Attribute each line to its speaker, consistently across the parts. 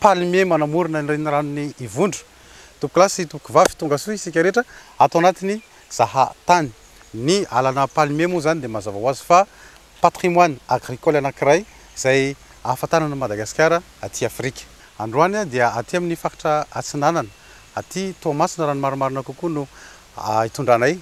Speaker 1: Palmier manamorona ny reniranon'i Ivondro. Tompokolahy sy tompokivavy, tonga soa isika rehetra ato anatin'ny Zaha Tany. Ny alana palmier moa izany dia mazava ho azy fa patrimoine agricole anankiray izay ahafantarana an'i Madagasikara aty Afrika. Androany dia aty amin'ny faritra Atsinanana, aty Toamasina raha ny marimarina kokoa no hitondranay.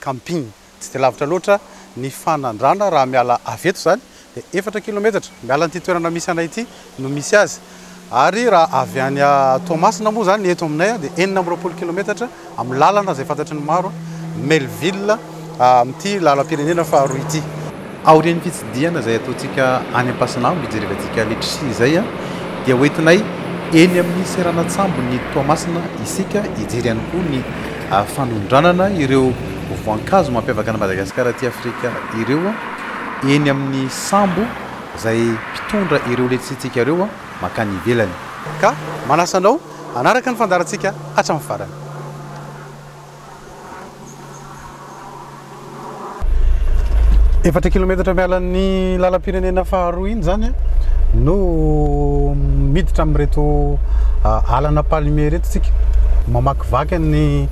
Speaker 1: Camping. Tsy dia lavitra loatra ny fanandrana raha miala avy eto izany dia efatra kilometatra miala an'ity toerana misy anay ity no misy azy ary raha avy any Toamasina moa izany eto aminay dia enina amby roapolo kilometatra amin'ny lalana izay fantatry ny maro Melville amin'ity lalam-pirenena faharoa ity. Aorian'ny fitsidihana izay ataontsika any Ampasinambo hijerevantsika letchie izay dia ho entinay eny amin'ny seranan-tsambon'i Toamasina isika hijery ihany koa ny fanondranana ireo voankazo mampiavaka an'i Madagasikara aty Afrika ireo eny amin'ny sambo izay mpitondra ireo letchie-ntsika ireo mankany ivelany. Ka manasa anao hanaraka ny fandaharantsika hatramin'ny farany. Efatra kilometatra miala ny lalam-pirenena faharoa iny zany no miditra amin'ireto alana palmier ireto tsika mamakivaky ny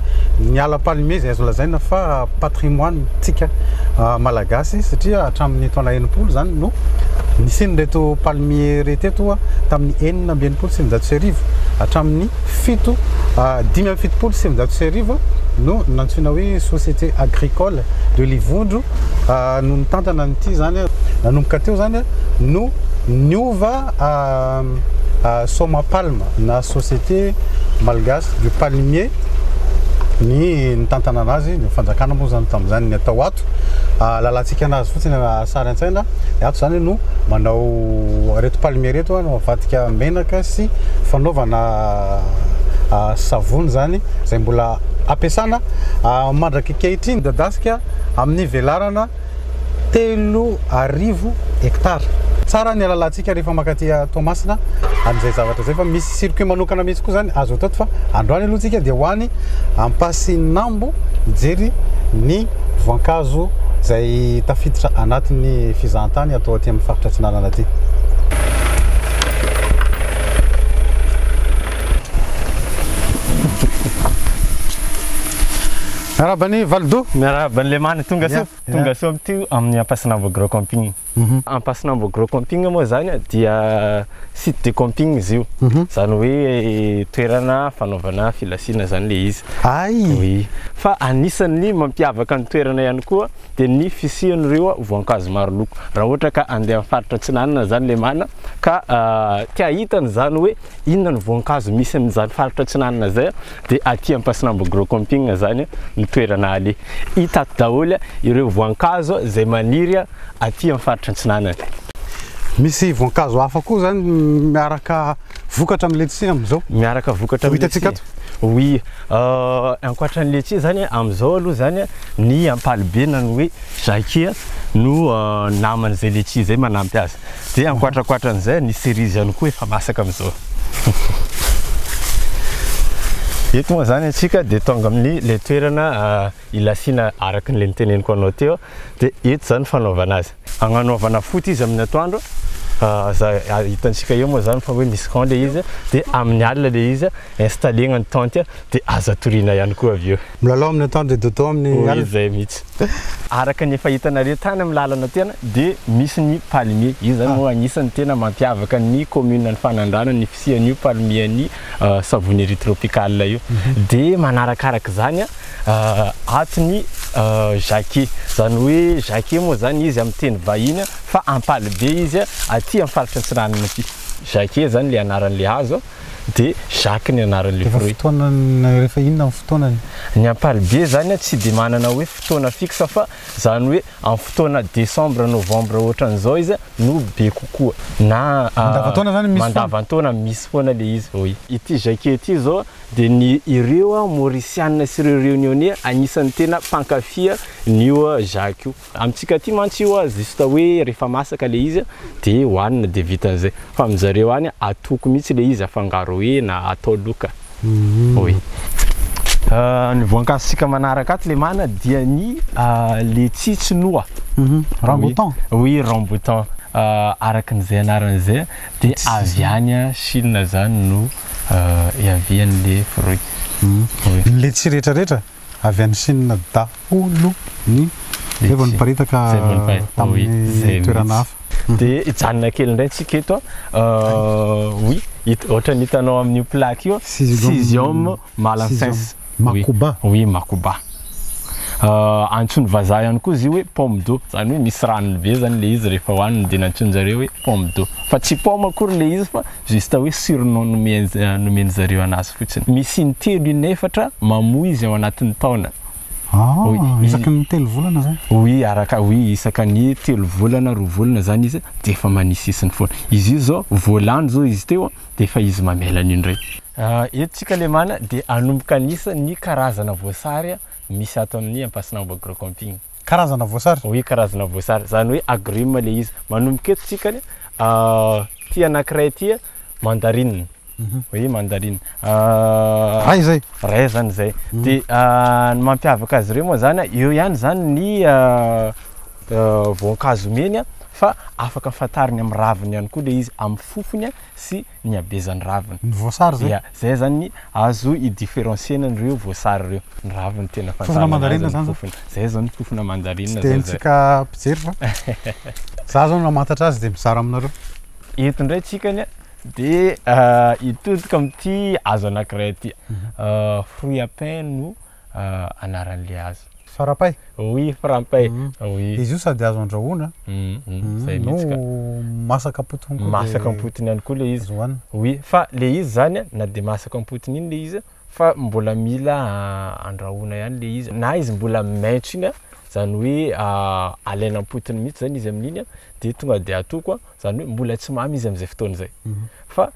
Speaker 1: ny ala palmier izay azo lazaina fa patrimoine tsika malagasy satria hatramin'ny taona enimpolo zany no nisian'ireto palmier ireto eto tamin'ny enina amby enimpolo sy eninjato sy arivo hatramin'ny fito, dimy amby fitopolo sy sivinjato sy arivo no nantsoina hoe Société Agricole de Livondro no nitantana an'ity izany. Nanomboka teo izany no niova Somapalm na Société Malgache du Palmier ny nitantana an'azy. Ny fanjakana moa izany tamin'izany ny atao ato, lalantsika an'azy fotsiny. Sary an-tsaina, Ny ato izany no manao ireto palmier ireto no avadika menaka sy fanaovana savony izany izay mbola ampiasana mandrak'ankehitriny midadasika amin'ny velarana telo arivo hectares. Tsara ny alalantsika. Isika rehefa mankaty Toamasina amin'izay zavatra izay fa misy circuit manokana mihitsy koa izany azo atao fa androany aloha isika dia ho any Ampasinambo hijery ny voankazo izay tafiditra anatin'ny fizahantany atao aty amin'ny faritra Atsinanana aty. Miarahaba ny Validoha. Miarahaba ny Lemany,
Speaker 2: tonga soa. Tonga soa amin'ity amin'ny Ampasinambo Agrocamping. Ampasinambo Agro Camping moa izany dia site de camping izy io, izany hoe toerana fanaovana filasiana izany ilay izy. Hay! Fa anisan'ny mampiavaka ny toerana ihany koa dia ny fisian'ireo voankazo maro loko. Raha ohatra ka handeha amin'ny faritra Atsinanana izany Lemana ka te hahita an'izany hoe inona ny voankazo misy amin'izany faritra Atsinanana izay, Dia aty Ampasinambo Gros Camping izany no toerana aleha. Hita ato daholo ireo voankazo izay maniry aty amin'ny faritra Antsinanana. Misy
Speaker 1: voankazo hafa koa izany miaraka vokatra amin'ny letchis amin'izao? Miaraka vokatra amin'ny letchis? Ho hitantsika ato? Oui, ankoatran'ny letchis izany amin'izao aloha izany ny ampalibe na ny hoe jacquier no naman'izay letchis izay manampy azy. Dia ankoatrankoatran'izay, ny cerise ihany koa efa masaka amin'izao. Eto moa izany antsika dia tonga amin'ny ilay toerana ilasiana araka an'ilay niteneniko anao teo, dia eto izany fanaovana azy. Agnanaovana foot izy amin'ny atoandro, izay hitantsika eo moa izany fa hoe misy camp ilay izy, dia amin'ny alina ilay izy installer-na ny tente dia aza toriana ihany koa avy eo. Milalao amin'ny antoandro dia dodo amin'ny Hoy alina. izay mihitsy.
Speaker 2: Araka ny efa hitanareo tany amin'ny lalana tena dia misy ny palmier. Io izany moa anisan'ny tena mampiavaka ny kaomininan'i Fanandrana ny fisian'io palmier-n'ny Savonnerie tropicale io. Dia manarakaraka izany ato ny jacquet. Izany hoe jacquet moa izany izy amin'ny teny vahiny fa ampalibe izy aty amin'ny faritra Antsiranana aty. Jacquet izany ilay anaran'ilay hazo. dia Jacques ny anaran'ilay fruit. Rehefa fotoanany, rehefa
Speaker 1: inona ny fotoanany? Ny ampalibe
Speaker 2: zany a tsy dia manana hoe fotoana fixe fa zany hoe amin'ny fotoana décembre, novembre ohatran'izao izy no be kokoa na mandavantaona zany misy
Speaker 1: mandavantaona misy foana
Speaker 2: le izy hoy. Ity Jacques ity zao dia ny ireo mauricianina sy ireo reunionnais anisany tena mpankafy an'io Jacques io. Amintsika aty mantsy io a juste hoe rehefa masaka le izy de hoanina de vitan'izay fa aminjareo any a atoko mihitsy le izy afangaro hena atao loka oui. Ny voankazo tsika manaraka ato lemana dia ny letchie tsy noa Rambutan
Speaker 1: oui rambutan
Speaker 2: araka ny zay anarany zay a de avy any a chine zany no iavian'le fruit. Ny
Speaker 1: letchie retraretra? Avy any Chine daholo ny Izay vao niparitaka Izay vao niparitaka, oui, tamin'ny izay toerana mihitsy. hafa. Dia hijanona
Speaker 2: kely indray isika eto a. Oui, hit- ohatran'ny hitanao amin'io plaque io a, Cesium- Cesium malancense. Cesium Oui. makuba. Oui,
Speaker 1: makuba.
Speaker 2: Ah, antsoin'ny vazaha ihany koa izy io hoe pomme d'eau, izany hoe misy ranony be izany ilay izy rehefa hohaniny dia nantsoin-jareo hoe pomme d'eau. Fa tsy paoma akory ilay izy fa Juste hoe surnom nomen nomen zareo anazy fotsiny. Misy intelo inefatra mamoa izy ao anatin'ny taona. Ah,
Speaker 1: isaky ny telo volana zany? Oui, araka oui
Speaker 2: isaka ny telo volana, roa volana zany izy de efa mania sisiny foana. Izy io zao vao lany zao izy teo de efa izy mamela an'io ndray. Ah, eto tsika lemana de hanomboka hanisa ny karazana voasary misy ato amin'ny Ampasinambo Agrocamping. Karazana voasary?
Speaker 1: Oui, karazana voasary.
Speaker 2: Zany hoe agrumes le izy. Manomboka eto tsika ny ah. Ity anankiray ity mandarine. Mhm. Oui, mandarine. Euh,
Speaker 1: ray zay. Ray zany zay. Mhm.
Speaker 2: Dia euh, ny mampiavaka azy ireo moa zany eo ihany zany ny euh, voankazo meny fa afaka fantarina amin'ny raviny ihany koa le izy amin'ny fofony sy ny habezan'ny raviny. Ny voasary zay.
Speaker 1: Zay zany
Speaker 2: azo i differencier-na an'ireo voasary ireo. Ny raviny tena fantarina azy ny fofony.
Speaker 1: Zay zao ny fofona
Speaker 2: mandarine zao zay. Tsy dia haintsika mpijery
Speaker 1: fa za zao no mamantatra azy dia mizara aminareo. Eto ndray
Speaker 2: tsika anie dia hitodika amin'ity hazo anankiray ity. Fruit à pain no. anaran'ilay azy. Farapay? Oui,
Speaker 1: farapay.
Speaker 2: Oui. Izy io sady azo andrahoana
Speaker 1: no
Speaker 2: masaka
Speaker 1: am-potony koa. Masaka am-potony ihany koa ilay
Speaker 2: izy. Oui, fa ilay izy izany na dia masaka am-potony iny ilay izy fa mbola mila andrahoana ihany ilay izy. Na izy mbola maitso iny, izany hoe alaina am-potony mihitsy izany izy amin'iny dia tonga dia atoko, izany hoe mbola tsy mamy izy amin'izay fotoana izay. Fa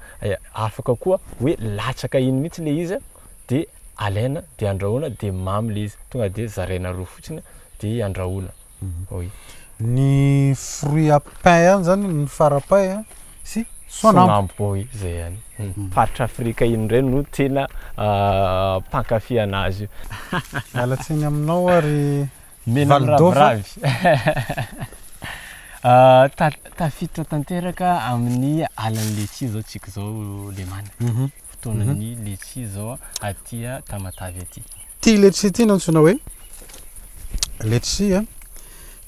Speaker 2: afaka koa hoe latsaka iny mihitsy ilay izy. de alaina de andrahoina de mamy le izy tonga de zaraina roa fotsiny de andrahoina oui Ny
Speaker 1: fruit à pain ihany zany ny farapay a sy soanambo. Soanambo oui zay ihany.
Speaker 2: Faritra Afrika iny ndray no tena mpankafy anazy io. Miala tsiny
Speaker 1: aminao ary. Mena miraviravy.
Speaker 2: Tafiditra tanteraka amin'ny alan'ny letchie izao tsika izao Lemana. Mhm. Fotoanan'ny mhm. letchie izao aty Tamatavy aty. Ty letchie ty no
Speaker 1: antsoina hoe letchie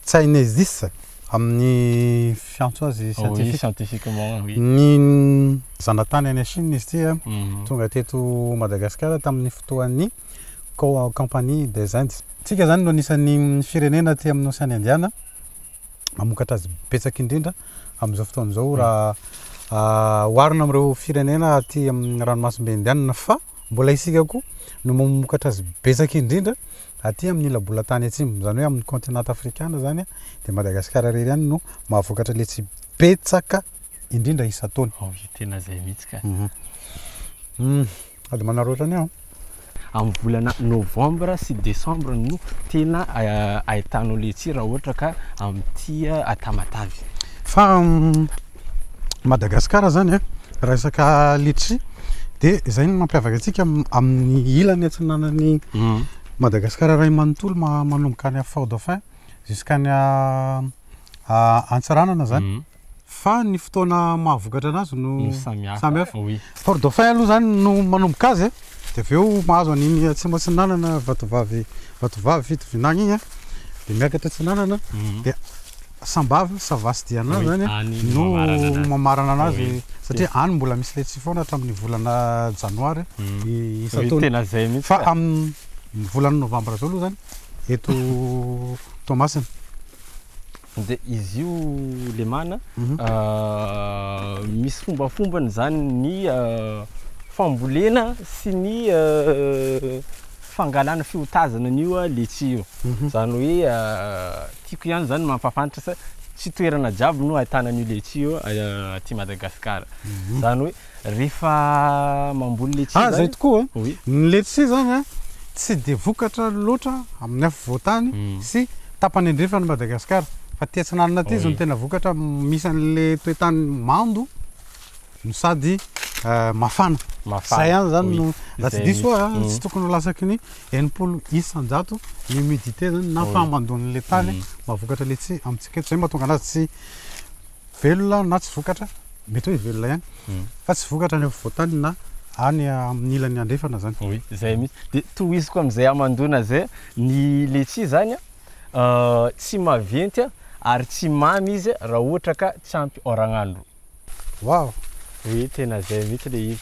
Speaker 1: Chinesis amin'ny fiantso azy oh, scientifique. Scientifiquement, oui.
Speaker 2: Ny
Speaker 1: zanatany any Chine izy ity mhm. tonga teto Madagasikara tamin'ny fotoan'ny Compagnie des Indes. Tsika zany no anisan'ny firenena aty amin'ny Ocean Indiana mamokatra azy betsaka indrindra amin'izao fotoana izao raha oharina amin'ireo firenena aty amin'ny ranomasimbe Indiana fa mbola isika koa no mamokatra azy betsaka indrindra aty amin'ny ila-bolantany atsimo, izany hoe amin'ny continent afrikana izany dia Madagascar irery ihany no mahavokatra letchi betsaka indrindra isan-taona. Tena izay mihitsy
Speaker 2: ka.
Speaker 1: Sady manarota ny aho. Amin'ny volana
Speaker 2: novambra sy desambra no tena ahitanao letsia raha ohatra ka amin'ity Tamatave. Fa
Speaker 1: Madagasikara izany a, raha resaka letsia dia izay no mampiavaka antsika amin'ny ilany atsinanan'i Madagasikara iray manontolo manomboka any Fort-Dauphin jusqu'any Antsiranana izany. fa ny fotoana mahavokatra anazy no samihafa. Port Dauphin aloha zany no manomboka azy dia avy eo mahazo an'iny atsimo atsinanana vatovavy vatovavy fito vinagny iny dia miakatra atsinanana mhm. dia sambava savasy diana zany no mamarana anazy satria any mbola misy letsy foana hatramin'ny volana janoary mhm. isan-taona fa amin'ny volana novambra zao aloha zany eto Toamasina
Speaker 2: De izy io lemana misy fombafombany zany ny fambolena sy ny fangalana fiotazana an'io a letchis io, zany hoe tiako ihany zany mampafantatra sa tsy toerana jiaby no ahitana an'io letchis io aty Madagasikara, zany hoe Rehefa mamboly letchis zany. Ah zay tokoa oui.
Speaker 1: Ny letchis
Speaker 2: zany a
Speaker 1: tsy dia vokatra loatra amin'ny afovoantany sy tapany andrefan'i Madagascar fa aty atsinanana aty izy no tena vokatra misy an'le toetany mando no sady mafana. Mafana. Zay ihany zany no raha tsy diso ah tsy tokony ho lasaky ny enimpolo isan-jato ny humidité zany na fahamandoan'le tany mahavokatra letchis amintsika eto zay mahatonga anazy tsy Velona na tsy vokatra, mety hoe velona ihany, fa tsy vokatra any afovoantany na any amin'ny ilany andrefana zany. Oui, zay mihitsy. De
Speaker 2: tohiziko amin'izay hamandoana zay, ny letchis zany tsy maventy ary tsy mamy izy raha ohatra ka tsy ampy oragn'andro.
Speaker 1: Waouh! Oui, tena
Speaker 2: zay mihitsy le izy.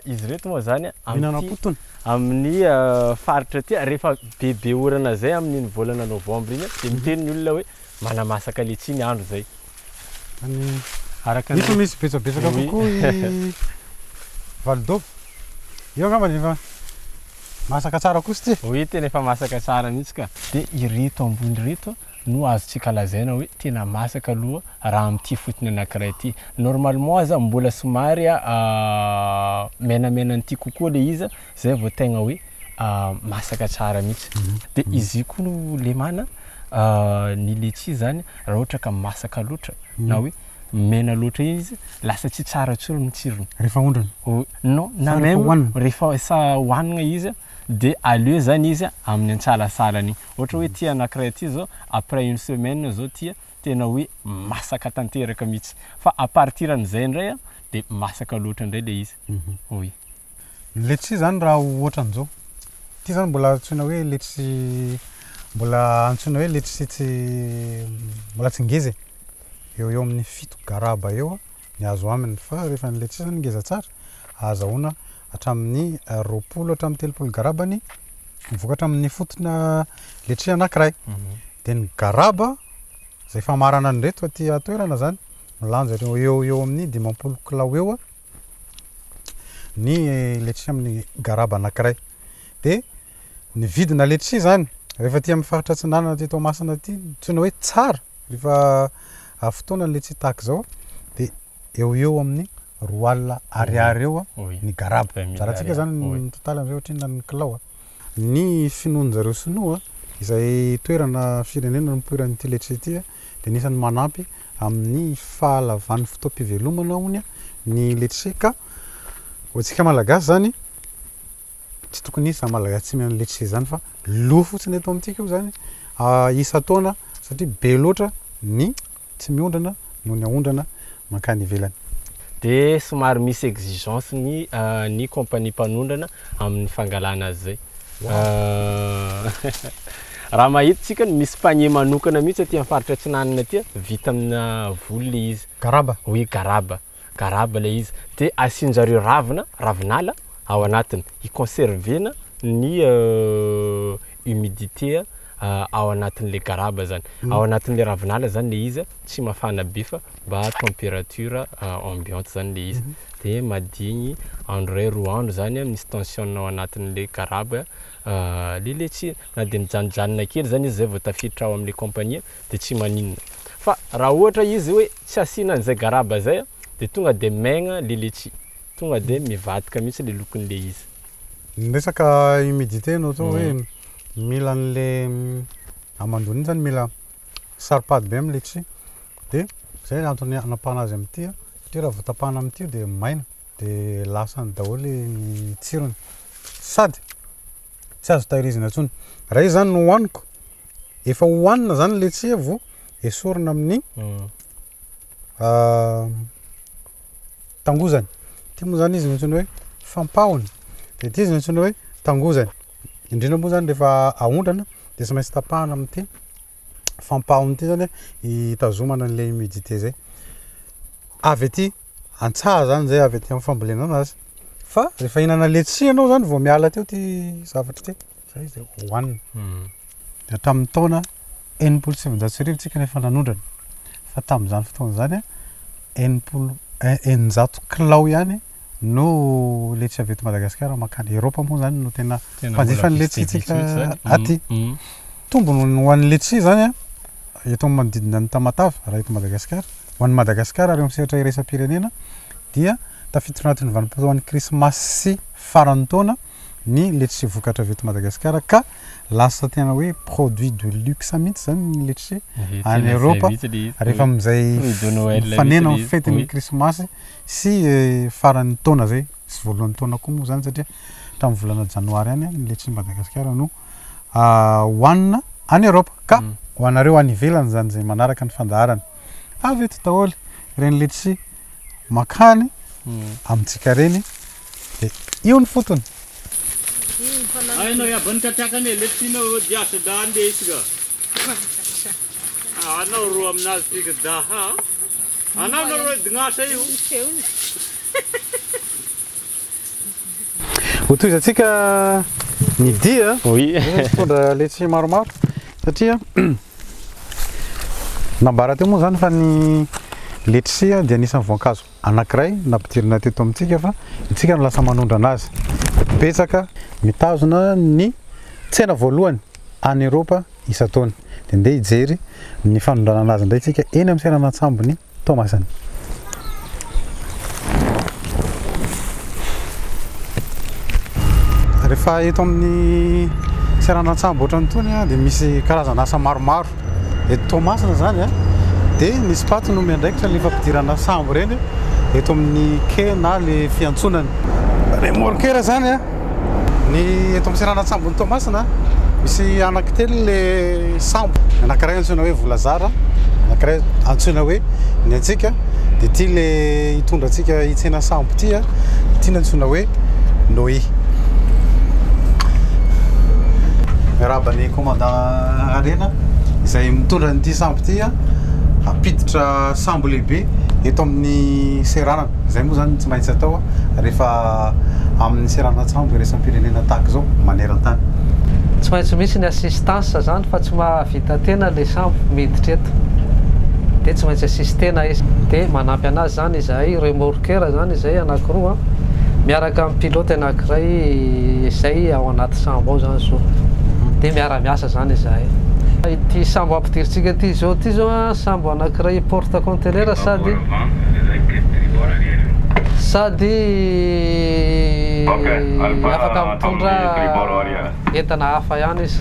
Speaker 2: Izy ireto moa zany Mihinana potony? amin'ny faritra aty rehefa bebe orana zay amin'iny volana novembre iny dia miteny ny olona hoe Manamasaka letchi ny andro zay. Any
Speaker 1: araka ny Efa misy betsabetsaka Oui, oui. kokoa i valodobo. Io angambany efa masaka tsara kosa ity e. Oui, tena efa masaka
Speaker 2: tsara mihitsy ka. Dia ireto ambony ireto no azontsika lazaina hoe tena masaka aloha raha amin'ity fotony anankiray ity. Normalement aza mbola somary menamenan'ity kokoa ilay izy Zay vao tegna hoe masaka tsara mihitsy. Dia izy io koa no lemana ny letchi zany raha ohatra ka masaka loatra na hoe mena loatra iny izy lasa tsy tsara intsony ny tsirony. Rehefa aondrana? Non,
Speaker 1: na
Speaker 2: même rehefa hohanina izy dia aleo zany izy amin'ny antsalasalany iny. Ohatra hoe ity anankiray ity zao après une semaine zao ity tena hoe masaka tanteraka mihitsy. Fa à partir an'izay indray dia masaka loatra indray ilay izy. Oui. Ny letchis
Speaker 1: zany raha ohatran'izao, ity zany mbola antsoina hoe letchis mbola antsoina hoe letchis tsy mbola tsy ngeza e, eo eo amin'ny fito garaba eo ny azo aminy fa rehefa ny letchis zany ngeza tsara ahazahoana hatramin'ny roapolo hatramin'ny telopolo garaba ny vokatra amin'ny fotona letchis anankiray. Dia ny garaba izay famarana an'ireto aty an-toerana zany milanja eo eo amin'ny dimampolo kilao eo. ny letchis amin'ny garaba anankiray. Dia ny vidina letchis izany, rehefa aty amin'ny faritra Atsinanana aty Toamasina aty, antsoina hoe tsara, rehefa avy fotoana ny letchis tahaka izao, dia eo ho eo amin'ny roa alina ariary eo ny garaba. Zarantsika izany ny total amin'izay ohatry ny inona ny kilao. Ny finoan-dry zareo sinoa, izay toerana, firenena nipoiran'ity letchis ity, dia anisan'ny manampy amin'ny fahalavan'ny fotoam-pivelomana hono ny letchie ka ho antsika malagasy izany tsy tokony hisy izany malagasy tsy mihinana letchie izany fa lo fotsiny eto amintsika io izany isan-taona satria be loatra ny tsy miondrana noho ny aondrana mankany ivelany. Dia
Speaker 2: somary misy exigence ny ny compagnie mpanondrana amin'ny fangalana azy izay. Raha mahita tsika ny misy panier manokana mihitsy aty amin'ny faritra atsinanana aty, vita amina voly ilay izy. Garaba? Oui, garaba. Garaba ilay izy. Dia asian-jareo ravina, ravinala ao anatiny hi-conserver-na ny humidité. ao anatin'ilay garaba zany, ao anatin'ilay ravinala zany le izy, tsy mafana be fa mba temperature ambiante zany le izy, de madigny andro ray roa andro zany a, misy tension-ny ao anatin'ilay garaba le letchi, na de mijanojanona kely zany izy zay vao tafiditra ao am'le compagnie de tsy maninona, fa raha ohatra izy hoe tsy asiana an'izay garaba zay a de tonga de maigna le letchi, tonga de mivadika mihitsy le lokon'le izy. Miresaka
Speaker 1: humidité anao zao hoe mila an'le hamandoana iny zany mila saropady be amin'ny letchis dia zay ny antony anapahana azy amin'ity a, satria raha vao tapahana amin'ity io dia maina dia lasany daholo ny tsirony sady tsy azo tahirizina intsony. Raha izy zany no hohaniko, efa hohanina zany ny letchis vao esorina amin'ny tangozany. Ity moa zany izy no antsoina hoe fampahony. Dia ity izy no antsoina hoe tangozany. Indrindra moa zany rehefa aondrana dia tsy maintsy tapahana amin'ity fampahony ity zany hitazomana an'ilay humidité zay. Avy aty an-tsaha zany zay, avy aty amin'ny fambolenana azy. Fa rehefa hihinana letchis ianao zany vao miala teo ity zavatra ity. Izay izay hohanina. Dia hatramin'ny taona enimpolo sy sivinjato sy arivo isika no efa nanondrana. Fa tamin'izany fotoana izany, enimpolo, eninjato kilao ihany no letchi avy eto Madagasikara mankany Eropa moa izany no tena mpanjifa ny letchi-ntsika aty. Tombony ho an'ny letchi izany an, eto amin'ny manodidina an'i Tamatave, raha eto Madagasikara, ho an'i Madagasikara ary eo amin'ny sehatra iraisam-pirenena dia tafiditra ao anatin'ny vanim-potoan'ny krismasy sy faran'ny taona ny letchis vokatra avy eto Madagasikara ka lasa tena hoe produit de luxe mihitsy izany ny letchis any Eropa rehefa amin'izay mifanena amin'ny fetin'ny krismasy sy faran'ny taona izay sy voalohan'ny taona koa moa izany satria hatramin'ny volana janoary any ny letchis Madagasikara no hohanina any Eropa ka ho anareo any ivelany izany izay manaraka ny fandaharana avy eto daholo ireny letchis makany amintsika ireny Io ny fotony.
Speaker 3: Hainao iaban'ny katrakany e, lefitrinao eo dia asa da andeha izy ka. Ah, anao ro aminazy tika da ha. Anao no ro dignasa io.
Speaker 1: Hotohizantsika ny dia. Oui. Mitondra letsy maromaro satria nambara teo moa zany fa ny letisia dia anisan'ny voankazo anankiray nampidirina teto amintsika fa isika no lasa manondrana azy. Betsaka. Mitazona ny tsena voalohany any Eropa isan-taona. Dia ndeha hijery ny fanondranana azy indray isika eny amin'ny seranantsambon'i Toamasina. Rehefa eto amin'ny seranantsambo ohatran'itony dia misy karazana asa maromaro. Eto Toamasina izany a, dia ny Spaty no miandraikitra ny fampidirana sambo ireny eto amin'ny quai na ilay fiantsonan'ny remorqueur izany a. Ny eto amin'ny seranan-tsambon'i Toamasina, misy anankitelo ilay sambo. Ny anankiray antsoina hoe Volazara, ny anankiray antsoina hoe Ny Antsika, dia ity ilay hitondra antsika hitsena sambo ity a, ity no antsoina hoe Nohy. Miarahaba ny. Commandant Harena izay mitondra an'ity sambo ity hampiditra sambo lehibe eto amin'ny seranana. Izay moa izany tsy maintsy atao rehefa amin'ny seranan-tsambo iraisam-pirenena tahaka izao maneran-tany. Tsy maintsy
Speaker 4: misy ny assistance izany fa tsy mahavita tena ilay sambo miditra eto dia tsy maintsy assister-na izy. Dia manampy an'azy izany izahay remorqueur izany izay anankiroa miaraka amin'ny pilote. Anankiray izay ao anaty sambo ao zany zao dia miara miasa zany izahay. Ity sambo ampidirintsika ity izao ity izao an, sambo anankiray porte conteneur sady sady afaka mitondra. Entana hafa ihany izy.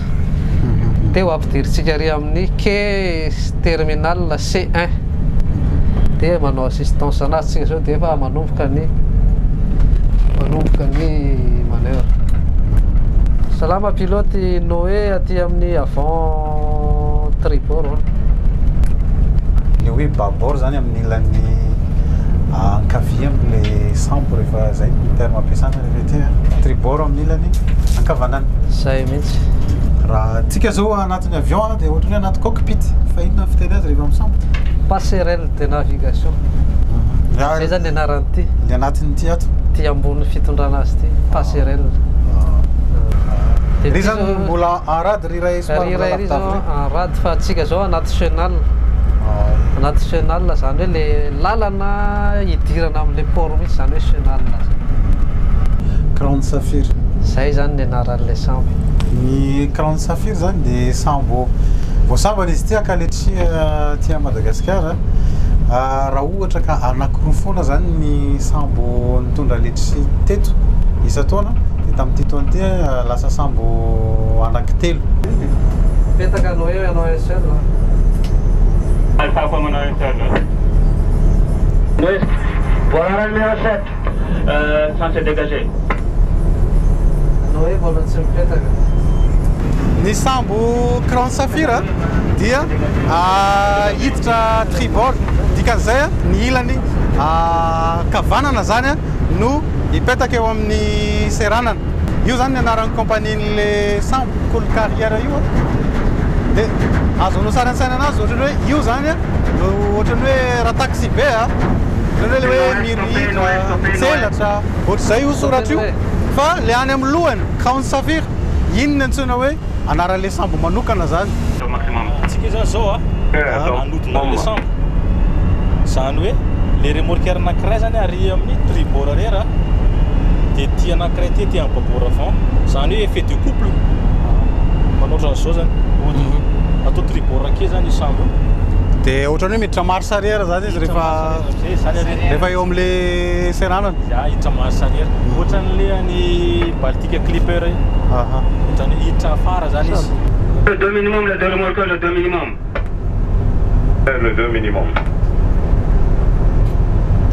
Speaker 4: Teo ampidirintsika ary amin'ny quai terminal C1 dia manao assistance anazy tsika zao dia efa manomboka ny manomboka ny manœuvre. Salama pilote Noé aty amin'ny avant tribord. Hein.
Speaker 1: Le hoe babord zany amin'ny ilany ankavia amin'ilay sambo rehefa zay terme ampiasana. Vérité a. Tribord amin'ny ilany ankavanana. Zay mihitsy.
Speaker 4: Raha antsika
Speaker 1: zao anatin'ny avion a, dia ohatran'ny hoe anaty cockpit, fa inona ny fiteny azy rehefa misambotra? Passerelle de
Speaker 4: navigation. Zay zany ny anaran'ity. Ny anatin'ity ato.
Speaker 1: Ty ambony fitondrana
Speaker 4: azy ty, passerelle.
Speaker 1: Ry zany mbola en rade. Rira ery zao
Speaker 4: an rad fa antsika zao anaty chenal anaty chenal zany hoe le lalana hidirana amle port mihitsy zany hoe chenal zany Crown
Speaker 1: Saphir zay zany ny
Speaker 4: anaranle sambo ny Crown
Speaker 1: Saphir zany de sambo voasambana izy ity ankaletsy aty Madagasikara raha Ohatra ka anakiroa foana izany ny sambo nitondra letchis teto isan-taona dia tamin'ity taona ity lasa sambo anankitelo.
Speaker 4: Petaka no eo ianao un seul an. Aza
Speaker 3: tafa manao un seul. Mbola rano miraosette. Centre dégagé.
Speaker 4: Anao hoe mbola tsy mipetaka.
Speaker 1: Ny sambo Crown Saphir dia hiditra tribord, dikan'izay ny ilany ankavanana zany no hipetaka eo amin'ny seranana. Io zany ny anaran'ny compagnie-n'le sambo Cool Carrier io an! de azo anao sary an-tsaina anazy ohatran'ny hoe io zany no ohatran'ny hoe raha taxi be an! ohatran'ny hoe le hoe mihitra, mitselatra, ohatr'izay io soratra io. Fa le any amin'ny lohany, Crown Sapphire, iny no antsoina hoe anaran'le sambo manokana zany. Antsika
Speaker 3: zany zao a, hanodina an'le sambo. Zany hoe le remorqueur anankiray zany ary amin'ny tribord arrière a,
Speaker 5: de ity anankiray ity aty amin'ny babord avant. Zany hoe effet de couple, manao ohatran'izao zany, atao tribord akaiza zany io sambo io. De ohatrany
Speaker 1: hoe miditra marche arrière zany izy. rehefa rehefa eo amle seranana za hiditra marche
Speaker 5: arrière mhm. ohatran'le any baltic clipper io aha ohatrany hiditra afara zany izy le deux minimum le deux remorqueur le deux minimum
Speaker 3: eh, le deux minimum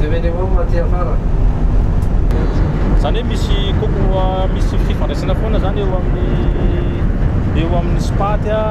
Speaker 3: deux minimum
Speaker 4: aty afara zany
Speaker 5: hoe misy koko misy fifandraisana foana zany eo amin'ny eo amin'ny spaty a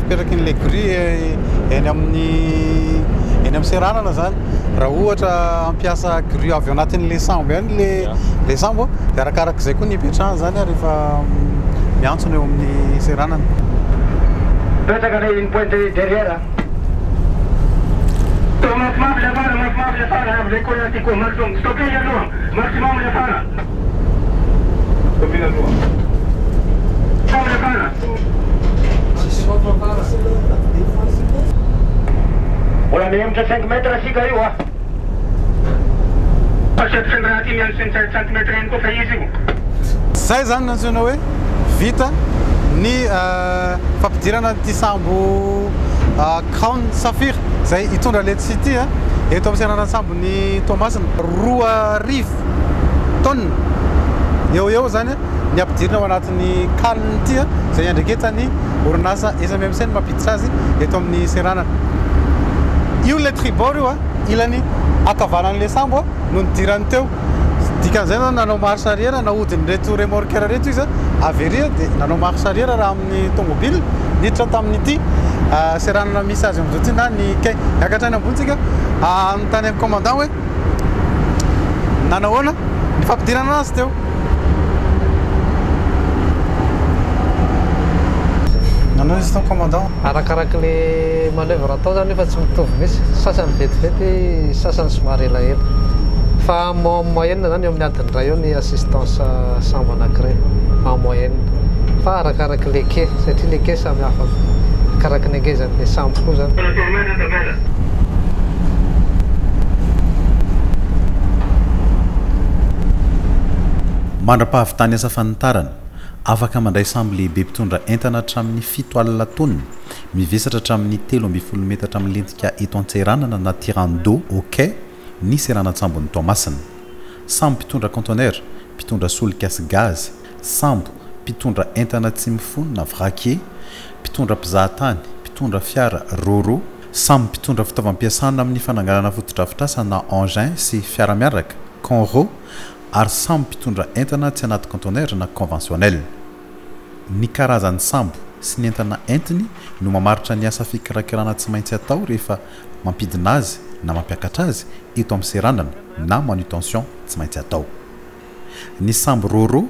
Speaker 1: Petraky ny legori eny amin'ny eny amin'ny seranana zany raha ohatra hampiasa grue avy ao anatin'ilay sambo ihany le le sambo dia arakarak'izay koa ny ipetrahany zany ary efa miantsona eo amin'ny seranana.
Speaker 3: Mipetraka le une pointe derrière a. Toa mafimafy le afara, mafimafy le afara, avy le courant ty koa, maximum, stopper ianao a, maximum le afara. Izay izany
Speaker 1: no antsoina hoe vita ny fampidirana an'ity sambo Crown Saphir izay hitondra an'ity site ity eto amin'ny seranan-tsambo. Ny Toamasina, roa arivo tonnes eo ho eo izany ny ampidirina ao anatin'ny kaliny ity, izay iandraiketan'ny orinasa SMMC no mampiditra azy eto amin'ny seranana. Io ilay tribord io, ilany ankavanan'ilay sambo no nidirany teo. Dikan'izay nanao marche arrière nahodin'ireto remorqueurs ireto izy, very dia nanao marche arrière raha amin'ny. tamin'ity ny tomobile niditra tamin'ity seranana misy azy amin'izao ity na ny quai. Niakatra any ambony tsika anontany an'ny commandant hoe nanahoana ny fampidirana azy teo. Nanao izy tao commandant. Arakaraka le
Speaker 4: manoeuvre atao zany efa tsy mitovy mihitsy, sasany vetivety, sasany somary elaela. Fa en moyenne zany eo amin'ny Tandray ao ny assistance sambo anakiray en moyenne fa arakaraky le quai satria le quai samy hafa arakaraky ny angezany le sambo koa zany.
Speaker 6: Mandra-pahavitany asa fanitarana, afaka mandray sambo lehibe mpitondra entana hatramin'ny fito alina taonina, mivesatra hatramin'ny telo ambin'ny folo metatra milentika eto Antseranana na tirant d'eau au quai ny seranan-tsambon'i Toamasina. Samy mpitondra conteneur, mpitondra solika sy gazy, sambo, mpitondra entana tsy mifono na vraquier, mpitondra mpizaha tany, mpitondra fiara roro, samy mpitondra fitaovam-piasana amin'ny fananganana fotodrafitrasa na engin sy fiara miaraka, conro, ary samy mpitondra entana tsy anaty conteneur na conventionnel. Ny karazan'ny sambo sy ny entana entiny no mamaritra ny asa fikirakirana tsy maintsy atao rehefa mampidina azy na mampiakatra azy eto amin'ny seranana na manutention tsy maintsy atao. Ny sambo Roro,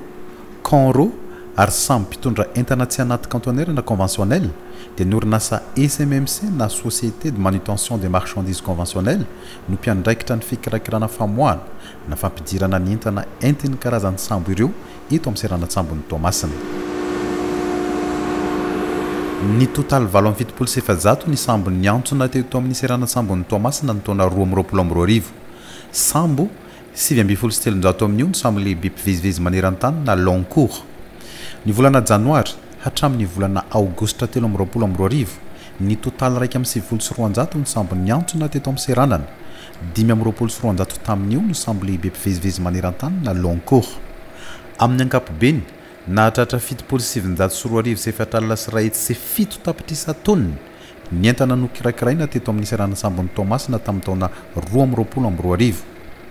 Speaker 6: Con Ro ary sambo mpitondra entana tsy anaty cantonnaire na conventionnel dia ny orinasa SMMC na Société de Manutention des Marchandises Conventionnelles no mpiandraikitra ny fikirakirana famoahana na fampidirana ny entana entin'ny karazan'ny sambo ireo eto amin'ny seranan-tsambon'i Toamasina. Nitotale valo amby fitopolo sy efajato ny sambo niantsona teto amin'ny seranan-tsambon'i Toamasina ny taona roa amby roapolo amby roa arivo. Sambo sivy ambin'ny folo sy telonjato amin'io ny sambo lehibe mpivezivezy maneran-tany na long cours. Ny volana janoary hatramin'ny volana aogositra telo amby roapolo amby roa arivo, nitotale iraika amby sivifolo sy roanjato ny sambo niantsona teto amin'ny seranana Dimy amby roapolo sy roanjato tamin'io no sambo lehibe mpivezivezy maneran-tany na long cours. Amin'ny ankapobeny, nahatratra fitopolo sy sivinjato sy roa arivo sy efatra alina sy iray hetsy sy fito tapitrisa taonina ny entana nokirakiraina teto amin'ny seranan-tsambon'i Toamasina tamin'ny taona roa amby roapolo amby roa arivo,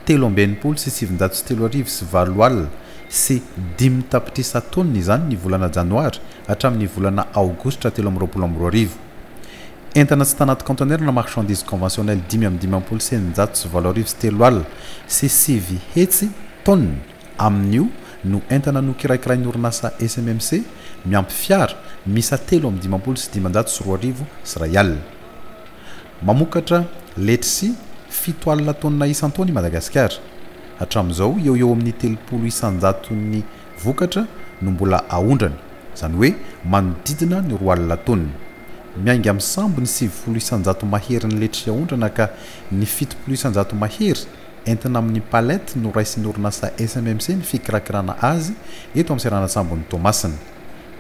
Speaker 6: telo amby enimpolo sy sivinjato sy telo arivo sy valo alina sy dimy tapitrisa taonina izany ny volana janoary hatramin'ny volana aogositra telo amby roapolo amby roa arivo. Entana tsy tanaty conteneur na marchandises conventionnelles dimy amby dimampolo sy eninjato sy valo arivo sy telo alina sy sivy hetsy, tonnes, amin'io no entana nokirakirain'ny orinasa SMMC miampy fiara miisa telo amby dimampolo sy dimanjato sy roa arivo sy iray alina. Mamokatra letchis fito alina tonnes isan-taona i Madagasikara. Hatramin'izao, eo ho eo amin'ny telopolo isanjaton'ny Vokatra no mbola aondrany, izany hoe manodidina ny roa alina taonina. Miainga amin'ny sambo ny sivifolo isan-jato maherin'ny letry aondrana ka ny fitopolo isan-jato mahery entina amin'ny palette no raisin'ny orinasa SMMC ny fikirakirana azy eto amin'ny seranan-tsambon'i Toamasina.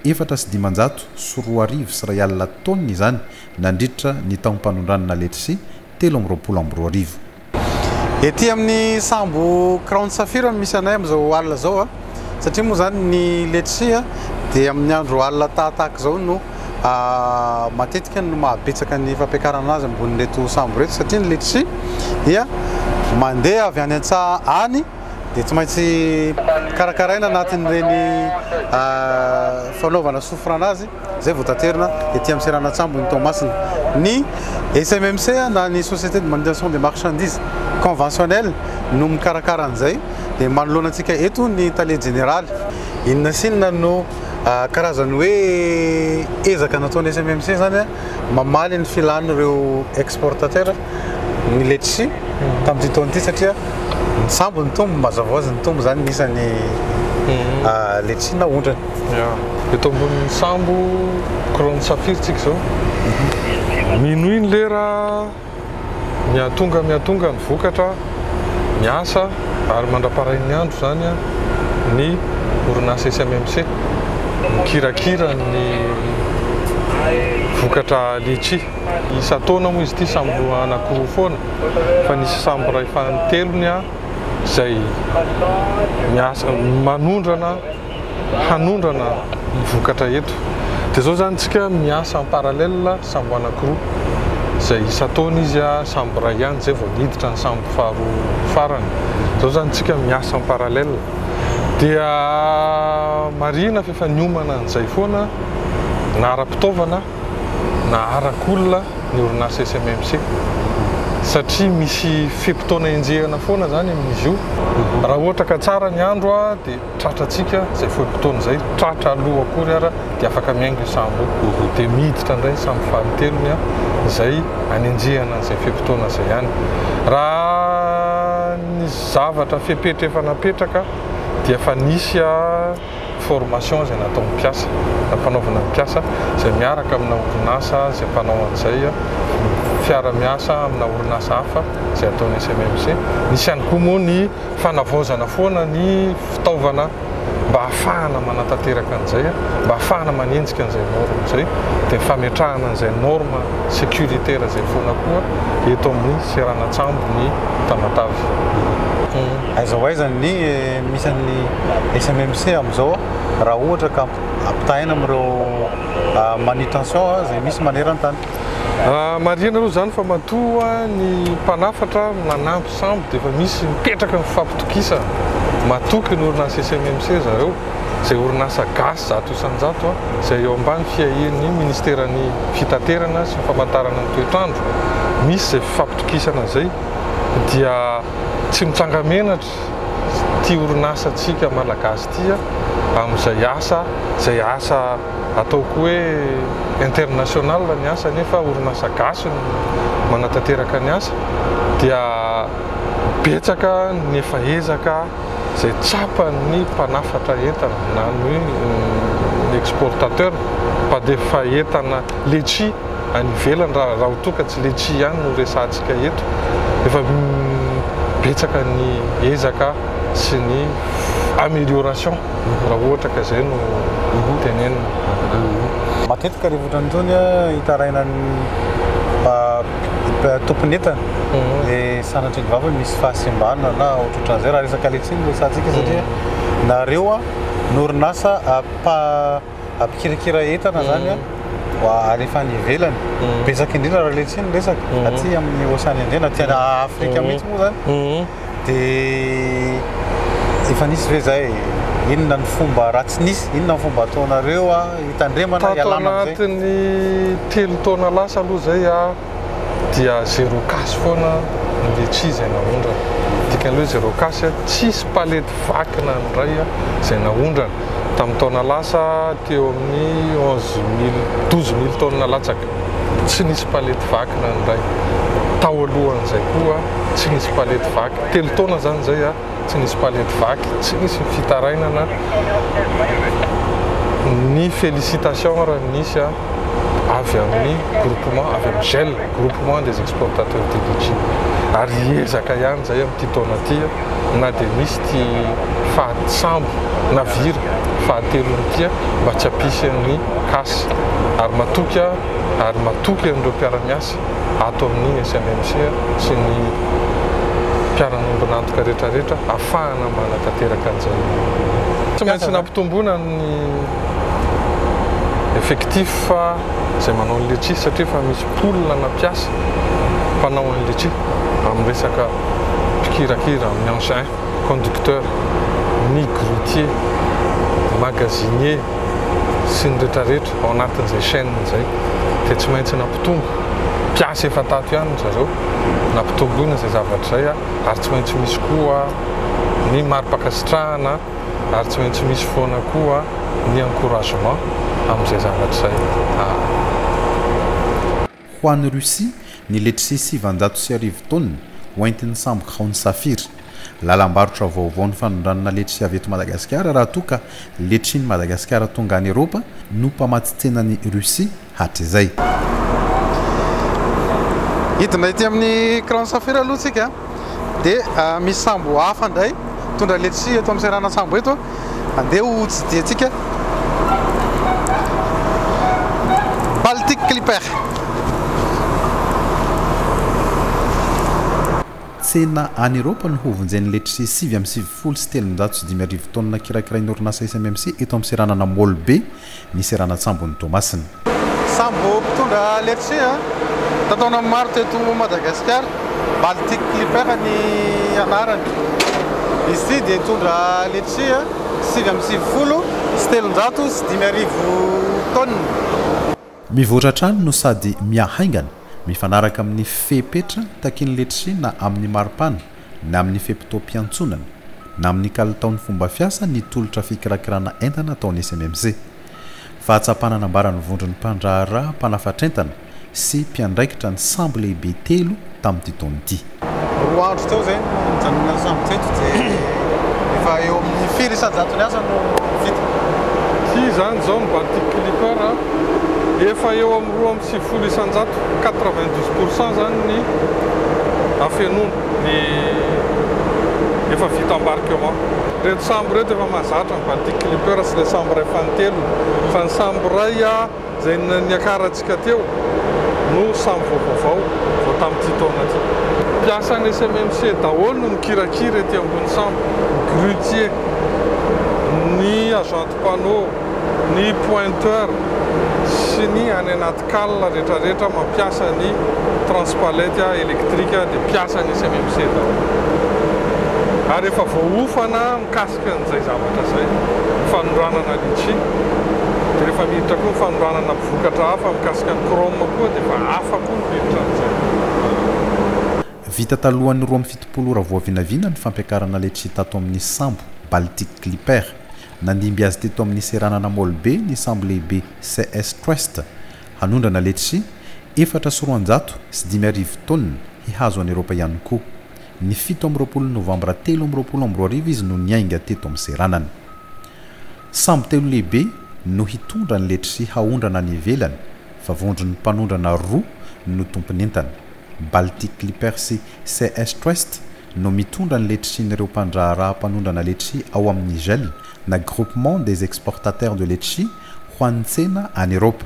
Speaker 6: Efatra sy dimanjato sy roa arivo sy iray alina taonina izany nandritra ny taom-panondranana letry telo amby roapolo amby roa arivo.
Speaker 1: Ety amin'ny sambo Crown Safira no misy anay amin'izao alina izao a, satria moa izany ny letchi a dia amin'ny andro alina tahatahaka izao no matetika no mahabetsaka ny fampiakarana azy ambonin'ireto sambo ireto satria ny letchi dia mandeha avy any an-tsaha any dia tsy maintsy karakaraina anatin'ireny fanaovana sofra anazy. izay voataterina ety amin'ny seranan-tsambo ny Toamasina. Ny SMMC na ny Société de Manutention des Marchandises Conventionnelles no mikarakara an'izay dia manoloana antsika eto ny Tale Jeneraly. Inona sy inona no karazan'ny hoe ezaka nataon'ny SMMC izany mamaly ny filan'ireo exportateurs? ny letchi tamin'ity taona ity satria mitsambo ny tombo, mazava ho azy ny tombo izany ny isan'ny mhm. ah, letchi na ondrana. Eto
Speaker 7: ambonin'ny sambo couronne saphir tsika izao. Mhm. Minoy ny lera miatonga miatonga ny vokatra miasa ary mandraparain'ny andro izany ny orinasa SMMC mikirakira ny vokatra letchi. isan-taona moa izy ity sambo roa anankiroa foana fa nisy sambo iray fanintelony izay miasa manondrana hanondrana ny vokatra eto dia izao izany isika miasa en parallèle sambo anankiroa izay isan-taona izy sambo iray ihany izay vao niditra ny sambo faharoa farany izao izany isika miasa en parallèle dia marihina fa efa niomana an'izay foana na ara-pitaovana naharaka olona ny orinasa SMMC satria misy fe-potoana enjehina foana izany amin'izy io. Raha ohatra ka tsara ny andro dia tratra antsika izay fe-potoana izay, tratra aloha akory ara dia afaka miainga io sambo io. Dia miditra indray ny sambo fahatelony izay anenjehana an'izay fe-potoana izay ihany. Raha ny zavatra fepetra efa napetraka dia efa nisy. formation izay nataon'ny mpiasa, nampanaovina ny mpiasa izay miaraka amina orinasa izay mpanao an'izay, fiara-miasa amina orinasa hafa izay ataon'ny SMMC. Nisy ihany koa moa ny fanavaozana foana ny fitaovana mba hahafahana manatanteraka an'izay, mba hahafahana manenjika an'izay norme izay, dia fametrahana an'izay norme sécuritaire izay foana koa eto amin'ny seranan-tsambo ny Tamatave.
Speaker 1: Aiza ho aiza ny misy an'ny SMMC amin'izao raha ohatra ka ampitahaina amin'ireo manutention izay misy maneran-tany? Marihina
Speaker 7: aloha izany fa matoa ny mpanafatra nanampy sambo dia efa misy mipetraka ny fifampitokisana. Matoky ny orinasa SMMC zareo, izay orinasa gasy zato isan-jato izay eo ambany fiahian'ny Ministeran'ny Fitaterana sy ny Famantarana ny Toetr'andro. Misy izay fifampitokisana izay dia. Tsy mitsanga-menatra ity orinasantsika Malagasy ity amin'izay asa, izay asa ataoko hoe international ny asa nefa orinasa gasy no manatanteraka ny asa dia betsaka ny efa ezaka izay tsapan'ny mpanafatra entana na ny exportateur mpandefa entana letchie. any ivelany raha raha toa ka tsy letchia ihany no resahantsika eto efa betsaka ny ezaka sy ny amélioration raha ohatra ka izay no tenenina.
Speaker 1: Matetika ireny otrany itony hitaraina ny mba tompon entana dia sanatria ny vavany misy fahasimbana na ohatrohatran izay raha resaka letchia no resahantsika satria nareo a ny orinasa mpa ampikirakira entana zany an, mba alefa any ivelany. Betsaka indrindra raha letsy ny resaka, aty amin'ny Ocean Indien na aty Afrika mihitsy moa zany. Dia efa nisy ve zay, inona ny fomba raha tsy nisy, inona ny fomba ataonareo hitandremana hialana amin'izay? Tato anatin'ny
Speaker 7: telo taona lasa aloha zay an, dia zero cas foana no le tsy izay naondrana. Dikan'ilay hoe zero cas, tsisy palette vaky na ny iray izay naondrana. Tamin'ny taona lasa teo amin'ny onze mille, douze mille tonnes latsaka, tsy nisy palette vaky na ny iray. Tao alohan'izay koa tsy nisy palette vaky. Telo taona izany izay. tsy nisy palette vaky, tsy nisy ny fitarainana, ny félicitations ary nisy avy amin'ny groupement avy amin'ny GEL, groupement des exportateurs du litchi, ary ezaka ihany izay amin'ity taona ity na dia misy ity fahasambo na vira fahatelony ity mba tsy hampisy an'ny cas, ary matoky aho ary matoky an'ireo mpiara-miasa. ato amin'ny SMMC sy ny mpiara-miombon'antoka rehetrarehetra hahafahana manatanteraka an'izay. Tsy maintsy nampitomboina ny effectif izay manao ny letchi satria efa misy pool ana mpiasa mpanao ny letchi amin'ny resaka mpikirakira amin'ny engin. conducteur, ny grutier, magasinier sy ny retraretra ao anatin'izay chaine izay dia tsy maintsy nampitombo, mpiasa efa tato ihany ry zareo, nampitomboina izay zavatra izay ary tsy maintsy misy koa ny mari-pankasitrahana ary tsy maintsy misy foana koa ny encouragement amin'izay zavatra izay.
Speaker 6: Ho an'i Russie, ny letchis sivanjato sy arivo taonina, hoentin'ny sambo Crown Saphir. Lalam-barotra vaovao ny fanondranana letchi avy eto Madagasikara raha toa ka letchin'i Madagasikara tonga any Eropa no mpamatsy tsenan'i Russie hatrizay.
Speaker 1: Hidina ety amin'ny Crown Saphir aloha tsika. dia misy sambo hafa indray mitondra letchis eto amin'ny seranan-tsambo eto andeha ho tsidiantsika Baltic Clipper
Speaker 6: Tsena any Eropa no hovonjen'ny letchis sivy amby sivifolo sy telonjato sy dimy arivo taonina kirakirain'ny orinasa SMMC eto amin'ny seranana Mall Be ny seranan-tsambon'i Toamasina. Samy vao
Speaker 1: mpitondra letchie tato taona maro teto Madagasikara, Baltic Clipper ny anarany. Izy ity dia nitondra letchie sivy amby sivifolo sy telonjato sy dimy arivo tonnes.
Speaker 6: Mivoatra hatrany no sady mihahaingana, mifanaraka amin'ny fepetra takian'ny letchie na amin'ny maripana na amin'ny fe-potoam-piantsonana, na amin'ny kalitaon'ny fomba fiasa ny tolotra fikirakirana entana ataon'ny SMMC. Fahatsapana nambaran'ny vondron'ny mpandraharaha mpanafatr'entana sy mpiandraikitra ny sambo lehibe telo tamin'ity taona ity. Roa andro teo
Speaker 1: izay no nijanonan'ny sambo teto dia efa eo amin'ny firy isan-jatony asa no vita. Ity
Speaker 7: izany izao ny Baltic Clipper, efa eo amin'ny roa amby sivifolo isanjato, quatre-vingt-dix pour cent, izany ny afenoana, ny efa vita embarquement. Ireto sambo ireto efa mahazatra ny Baltic Clipper sy ilay sambo iray fanintelony, fa ny sambo iray izay niakarantsika teo no sambo vao vaovao, vao tamin'ity taona ity. Mpiasan'ny SMMC daholo no mikirakira ety ambony sambo, ny grutier, ny agent de panneau, Ny pointeur sy ny any anaty cale retraretra mampiasa ny transpalette électrique dia mpiasa ny CMMC daholo. Ary efa voaofana mikasika an'izay zavatra izay, ny fanondranana litchi. Dia rehefa miditra koa ny fanondranana vokatra hafa mikasika ny chrome koa dia efa hafa koa ny miditra amin'izay.
Speaker 6: Vita talohan'ny roa amby fitopolo ora voavinavina ny fampiakarana letchi tato amin'ny sambo, Baltic Clipper. Nandimby azy teto amin'ny seranana Molbe ny sambo lehibe CS Trust hanondrana letchis efatra sy roanjato sy dimy arivo taonina hihazo an'i Eropa ihany koa. Ny fito amby roapolo Novambra telo amby roapolo amby roa arivo izy no niainga teto amin'ny seranana. Sambo telo lehibe no hitondra ny letchis haondrana any ivelany fa vondron'ny mpanondrana roa no tompon'entana, Baltic Clipper sy CS Trust no mitondra ny letrsin'ireo mpandraharaha mpanondrana letchi ao amin'ny GEL, na Groupement des Exportateurs de Letchi, ho an'ny tsena any Eropa.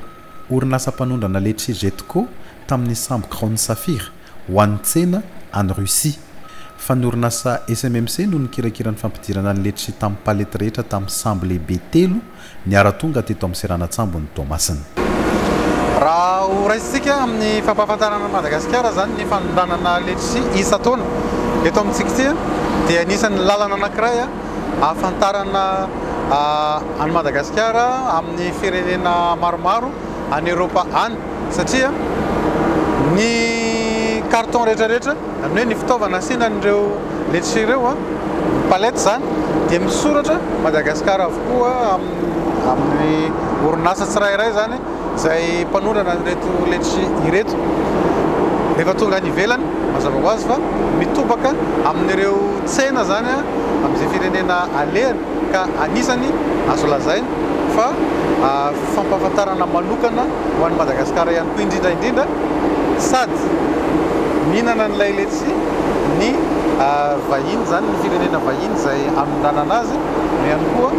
Speaker 6: Orinasa mpanondrana letchi Getco tamin'ny sambo Crown Saphir ho an'ny tsena any Russie. Fa ny orinasa SMMC no nikirakira ny fampidirana ny letchi tamin'ny palette rehetra tamin'ny sambo lehibe telo Niara-tonga teto amin'ny seranan-tsambon'i Toamasina.
Speaker 1: Raha ho raisintsika amin'ny fampahafantarana an'i Madagasikara izany ny fanondranana letchis isan-taona eto amintsika ity dia anisan'ny lalana anankiray ahafantarana an'i Madagasikara amin'ny firenena maromaro any Eoropa any. satria ny carton rehetra rehetra zany hoe ny fitaovana asiana an'ireo letchis ireo an, ny palettes zany dia misoratra Madagascar avokoa amin'ny amin'ny orinasa tsirairay zany izay mpanondrana an'ireto letchis ireto, rehefa tonga any ivelany mazava ho azy fa mitobaka amin'ireo tsena zany an, amin'izay firenena alehany. ka anisany azo lazaina fa fampahafantarana manokana ho an'i Madagasikara ihany koa indrindra indrindra sady mihinana an'ilay letchi ny vahiny izany ny firenena vahiny izay anondranana azy no ihany koa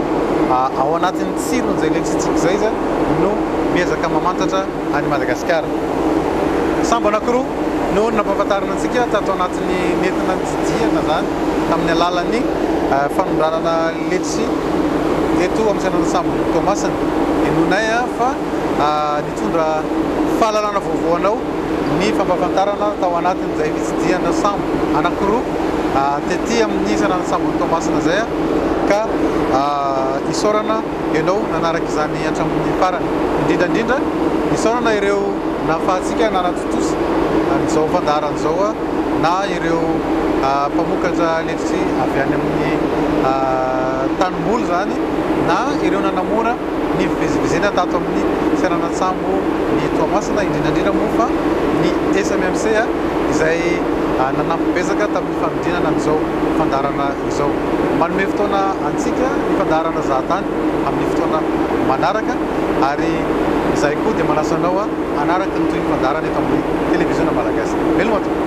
Speaker 1: ao anatin'ny tsiron'izay letchi-tsika izay izany no miezaka mamantatra any Madagasikara. Sambo anankiroa no nampahafantarina antsika tato anatin'ny nentina nitsidihana izany tamin'ny alalan'ny fanondranana letry eto amin'ny Seranan'ny Sambon'i Toamasina. Henoinay fa nitondra fahalalana vaovao anao ny fampahafantarana tao anatin'izay fitsidihana sambo anankiroa tety amin'ny Seranan'ny Sambon'i Toamasina izay ka isaorana. ianao nanaraka izany hatramin'ny farany. Indrindra indrindra, isaorana ireo nahafahantsika nanatontosa an'izao fandaharana izao na ireo mpamokatra letitry avy any amin'ny tanimboly izany na ireo nanamora ny fivezivezena tato amin'ny seranan-tsambo ny Toamasina, indrindra indrindra moa fa ny SMMC izay nanampy betsaka tamin'ny fanodinana an'izao fandaharana. izao. Manome fotoana antsika ny fandaharana Zahatany amin'ny fotoana manaraka ary izahay koa dia manasa anao hanaraka ny tohin'ny fandaharana eto amin'ny Televiziona Malagasy. Veloma tompoko.